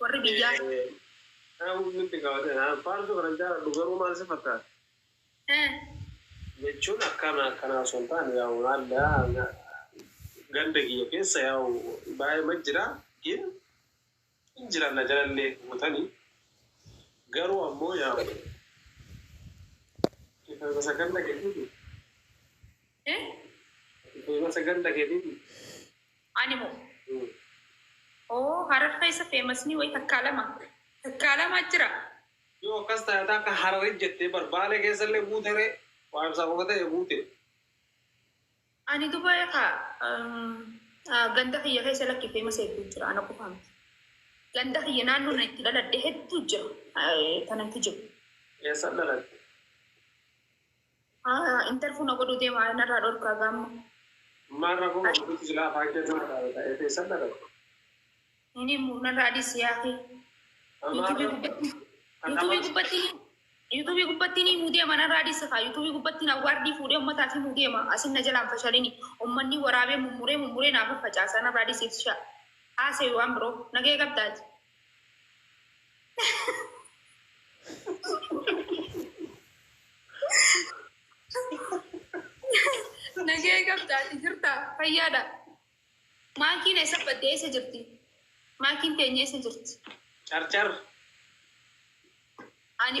Warri biyyaa. Kana nutti gaafate. Faarsuu kanan jaaladhu garuu maal si fakkaata? Eh. Jechuun akkaan akkanaa osoo hin taane yaa'u maalla ganda kiyya keessa yaa'u baay'eema jira gin hin jiran na jalallee guutani garuu ammoo yaa'u. Isa ganda keetiiti. Eh? Feemasa ganda keetiiti. Ani moo? Hmm. Oo harar keessa feemasni wayi takkaa lama. Takkaa lama jira. Yoo akkas taate akka hararit jettee bar baalee keessallee buute ree waa ibsaa qofa ta'e buute. Ani duba ka ganda kiyya keessa lakki feemasa hedduu jira ana qofa miti. Ganda kiyya naannoo na itti dhaladhe hedduu jira. Eh, Tanatti jiru. Eessan dhalatte? Haa interview na godhuu deema narraa dhorkaa gaa amma. Maal rakkoo qaba nuti silaa afaan keetu na dhabe ta'ee teessan dhabe. Hin himu narraa dhiisi yaakii. Yuutuubii gubbatti Yuutuubii gubbatti Yuutuubii gubbatti ni himuu deema narraa dhiisi kaa Yuutuubii gubbatti na waardii fuudhee ummataaf himuu deema asin na jalaan fashalini ummanni waraabee mummuree mummuree naaf facaasa narraa dhiisi itishaa. Haasayi waan biroo nagee qabdaati. Nagee qabdaati jirta fayyaadha. Maakiin eessa badde eessa jirti? Maakiin teenya eessa jirti? Carcar. Ani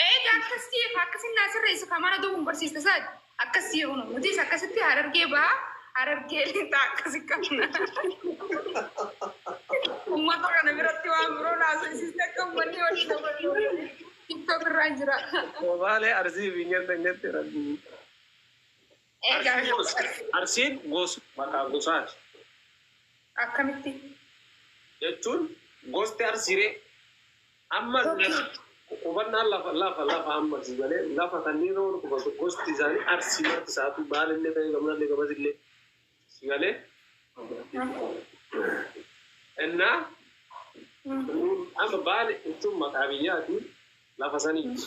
Eega akkasii akkasiin naa sirreessi kan mana duubuun barsiiste saati akkasii hunu nutis akkasitti harargee ba'aa harargee lixaa akkasi qabna. Uummata kana biratti waan biroo naasisiisne akka uummanni walii dabaluu tiktok irraa jira. Soomaalee arsii fi nyadda nyatti rabbii. Arsiin gosa. Arsiin gosa, maqaa gosaati. Akkamitti? Jechuun gosti Arsii ree? Amma qubannaan lafa lafa lafa amma si galee lafa kanneen roon qubatu gosti isaanii Arsii marti isaatu baalillee ta'ee gamnallee gabasillee si galee innaa amma baale jechuun maqaa biyyaati lafa saniiti.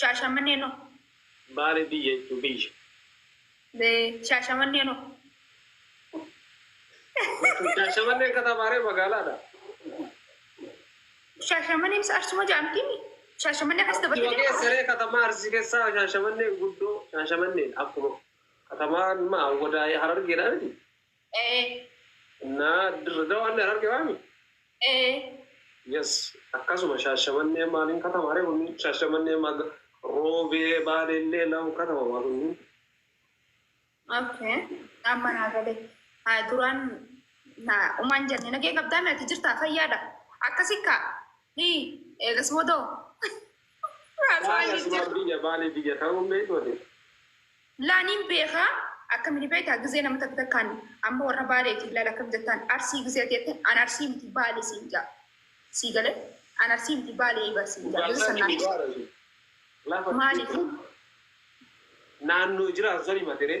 Shaashamannee no. Baale biyya jechuun biyya. Shaashamannee no. Shaashamanneen katamaa ree magaalaadha? Shaashamanneen isa Arsuma jedhamti. Shaashamannee akkas Arsii dabalatee wageessa nama. ree katamaa Arsii keessaa shaashamanneen guddoo shaashamanneen akkuma katamaa ma awwadaa harargeedha miti. Ee. Naa dirre dawaallee hararge waami? Ee. Yes akkasuma shaashamannee maaliin katamaa ree kunniin shaashamannee maga roobee baaleellee lamu katamamaa kunniin. Okay. Amma naa galee. Haa duraan na umaan jenne nagee qabdaa meeti jirtaa fayyaadha. Akkasi kaa. Hii eegas boodoo. Haasawaa Baale asuma jijjiirra. biyya baale biyya ta'uun beektu ati. Laa niin beekaa akkami ni beektaa gizee nama takka takkaan amma warra baaleetiif laal akkam jettaan arsii gizee ati jetteen an arsii miti baale siin jaa sii galee an arsii miti baaleeyi bar siin jaa gizee san naaf ibsi maaliif naannoo jiraatu san himateree.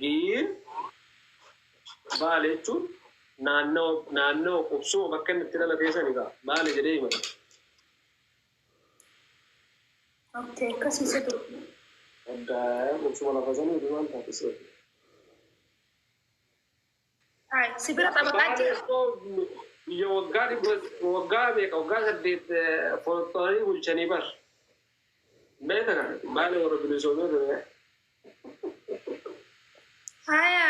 Giir Baale jechuun naannawa naannawa qubsuma bakka inni itti dhalatee sani gaa Baale jedhee himata. Okay, akkasii sirri. Adda qubsuma lafa sanii fi maal taate seetu. Si bira xabaqaan jira. Biyya waggaa dhibba waggaa meeqa waggaa saddeet foxxooranii bulchanii bar. Beekta kana baala warra bilisoomee ture. Haya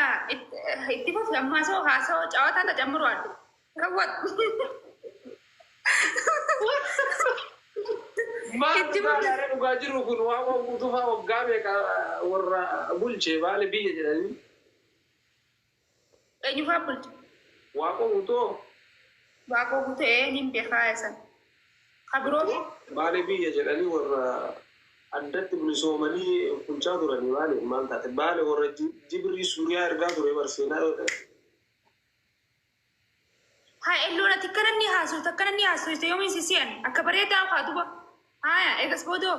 itti fufi ammaa soo haasoo cawataa tajammiru addu. Rawwat. Maal Itti fufi. baalaaree dhugaa jiru kun waan waan guutuufaa waggaa meeqa warra bulche baala biyya jedhanii. Eenyufaa bulcha? Waaqoo Guutuu hoo? Waaqoo Guutuu ee nin bekaa isa. Ka biroo hoo? Baale biyya jedhanii warra addatti bilisoomanii bulchaa turanii baaleef maal taate? Baale warra Jibrii Suuriyaa ergaa turee bar seenaa yoo ta'e. Haa elloon ati akkana inni haasofte akkana inni haasofte yoomiin si si'an akka bareedaa kaa duba. Haaya eegas boodoo.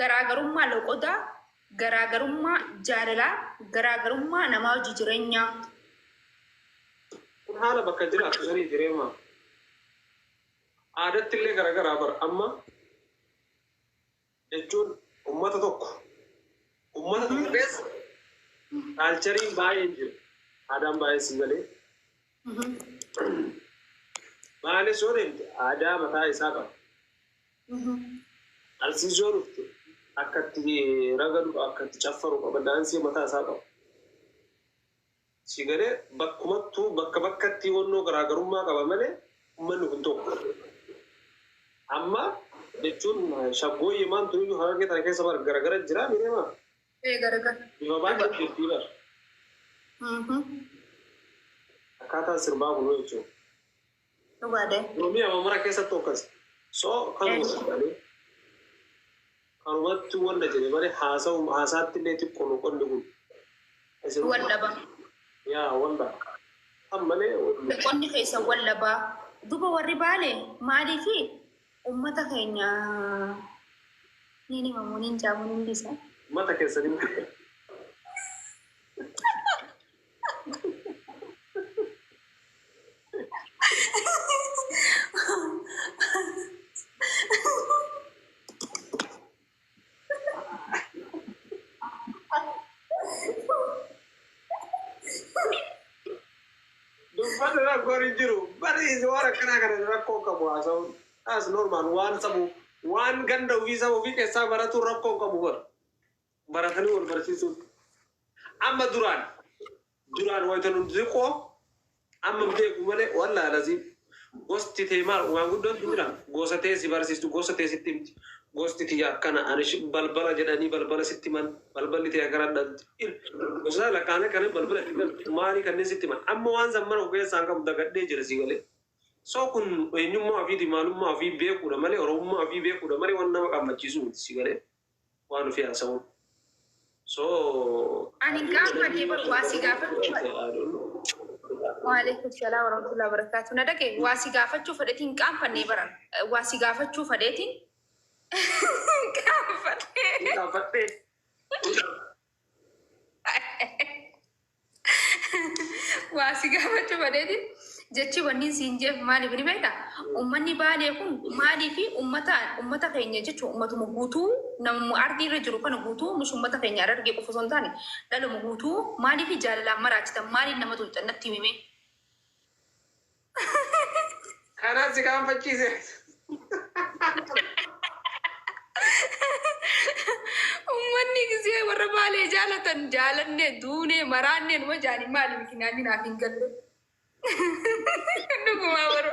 Garaagarummaa loqodaa, garaagarummaa jaalalaa, garaagarummaa namaa wajji jirenyaa. Kun haala bakka jiraattu sanii jireema aadatti illee garagaraa bar amma jechuun ummata tokko ummata tokko keessa kaalchariin baay'een jiru aadaan baay'een sii galee. Baalee soo deemte aadaa mataa isaa qaba. Arsii soo dhufte akka itti ragadu akka itti caffaru qaba daansii mataa isaa qaba. Si galee bakkumattuu bakka bakkatti wannoo garaagarummaa qaba malee uummanni kun tokko. Amma jechuun shaggooyyee maantu iyyuu harargee tana keessa bar garagara jira miidhama. Ee garagar. Bifa baay'ee jirtii bar. Akkaataan sirbaa kunuu jechuudha. Dhugaadha. Oromiyaa mamara keessatti akkas. So kanuma jedhanii kanumatti wanda jedhe malee haasa'u haasaatti illee xiqqoo loqonni kun. Isin- Wal dhaba. Yaa wanda. Kan malee Qonni keessa wal dhabaa. Duba warri baale maaliifi Ummata keenya niin himamu niin jaamu niin dhiisa. Ummata keessan hin beeku. Dubbata rakkoon hin jiru. Bariis waan akkanaa kana rakkoo qabu haasa'uun. As normaal waan sabu waan ganda ofii saba ofii keessaa baratu rakkoo qabu bar. Baratanii wal barsiisuun. Amma duraan Duraan wayta nu diqoo amma beeku malee wallaah laziim gosti tee maal maanguddoon tun jira gosa tee si barsiistu gosa tee sitti himti gosti tiyya akkana ani shi balbala jedhanii balbala sitti himan balballi tee akana dhalti il gosa lakkaanee kanan balbala itti galtu maalii kanneen sitti himan amma waan san mara of keessaa hin qabu dagadhee jira sii galee so kun eenyummaa ofiiti maalummaa ofii beekuudha malee oromummaa ofii beekuudha malee waan nama qammachiisu miti sii galee waan ofii haasa'uun. So Ani hin gaafadhe bar waa si gaafachuu fedhe. Waaleykum salaam warahmatullahi wabarakatuh. Na dhage waa si gaafachuu fedhetiin hin qaanfanne bara. Eh, Waa si gaafachuu fedhetiin hin qaanfanne. Gaafadhee. waa si gaafachuu badeeti jechi wanni siin jeef maaliif ni beekta ummanni baalee kun maalii fi ummata ummata keenya jechuun ummatuma guutuu namuma ardii irra jiru kana guutuu mis ummata keenya arargee qofa osoo hin taane dhaluma guutuu maalii fi jaalalaan maraachitan maaliin nama tuqxan natti himimee Kanaan si kaanfachiise. Ummanni gisee warra baalee jaalatan jaalanne duune maraanne numa jaani maali mikinaan naaf hin galle. Dhugumaa warra.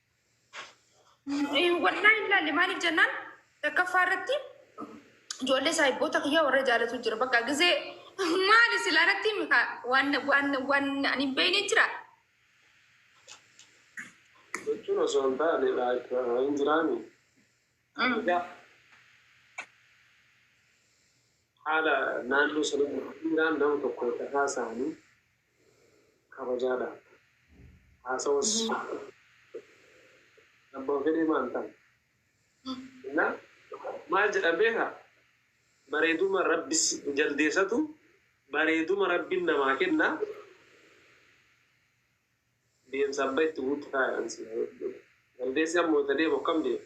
Wallaa hin laalle maaliif jennaan takkaffaa irratti ijoollee saahibboota kiyyaa warra jaalatu jira. Bakka gisee maali silaa irratti himi kaa waan waan waan ani hin beekne jira. jechuun osoo hin taane like hin jiraani egaa haala naannoo sanatti jiraan nama tokko irra haasa'anii kabajaadha. Haasawus abbaan fedhee maal ta'a? Ina maal jedhan beekta? Bareeduma Rabbi jaldeessatu bareeduma Rabbiin namaa kenna deemsa abba itti guutti kaayaan si jaldeessi ammoo itti deemu akkam deema?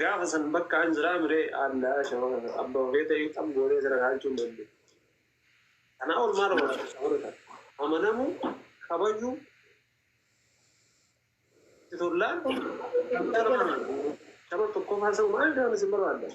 Gaafa san bakkaan jiraa mire Allah shawara abba ofee ta'ee xab goonee sira dhaalchuu hin dandeenye. Kanaa ol maal goona shawara tan amanamuu kabajuu itti tollaan shawara tokkoffaa sa'u maal jedhaman isin barbaaddan.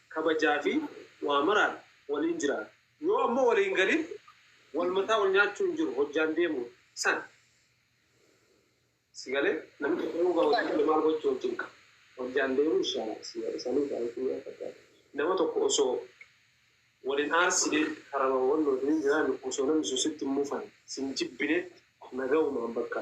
kabajaa fi waa maraan waliin jiraata. Yoo ammoo walii hin galin wal mataa wal nyaachuu hin jiru hojjaan deemuudha. San. Si galee? Namni tokko yoo gaa hojii dhabe maal gochuu hojjin qaba? Hojjaan deemuu ishaala si gale sanii gaa itti mi'a fakkaata. Nama tokko osoo wal hin aarsine karama wal wajjin hin jiraanne osoo namni sun sitti hin mufanne, si hin jibbine nagawumaan bakka.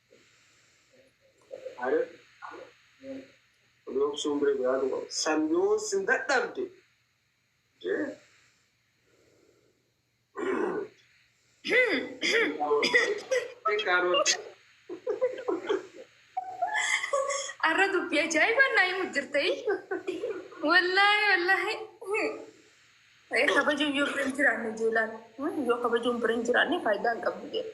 Aare obsuun bira jiraatu qaba. San yoo sin dadhabde jee Karoora. Arra dubbii ajaa'ibaan naa himu jirta. Wallaahi wallaahi. Kabajuun yoo bira hin jiraanne jeelaan yoo kabajuun bira hin jiraanne faayidaa hin qabdu jeela.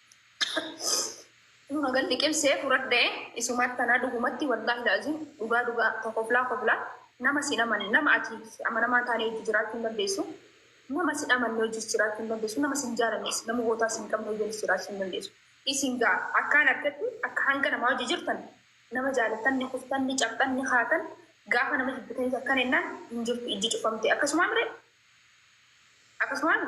Dhuma gad liqimsee furadhee isumaatti tanaa dhugumatti wallaahi laaziim dhugaa dhugaa ta koflaa koflaa nama sin amane nama ati amanamaa taanee hojii jiraachuu hin dandeessu nama sin amanne hojii jiraachuu hin dandeessu nama sin jaalannes nama gootaa sin qabne hojii jiraachuu hin dandeessu isin gaa akkaan argatti akka hanga namaa hojii jirtan nama jaalattan ni kuftan ni cabxan ni kaatan gaafa nama jibbitanis akkan ennaan hin jirtu ijji cufamte akkasumaan mire akkasumaan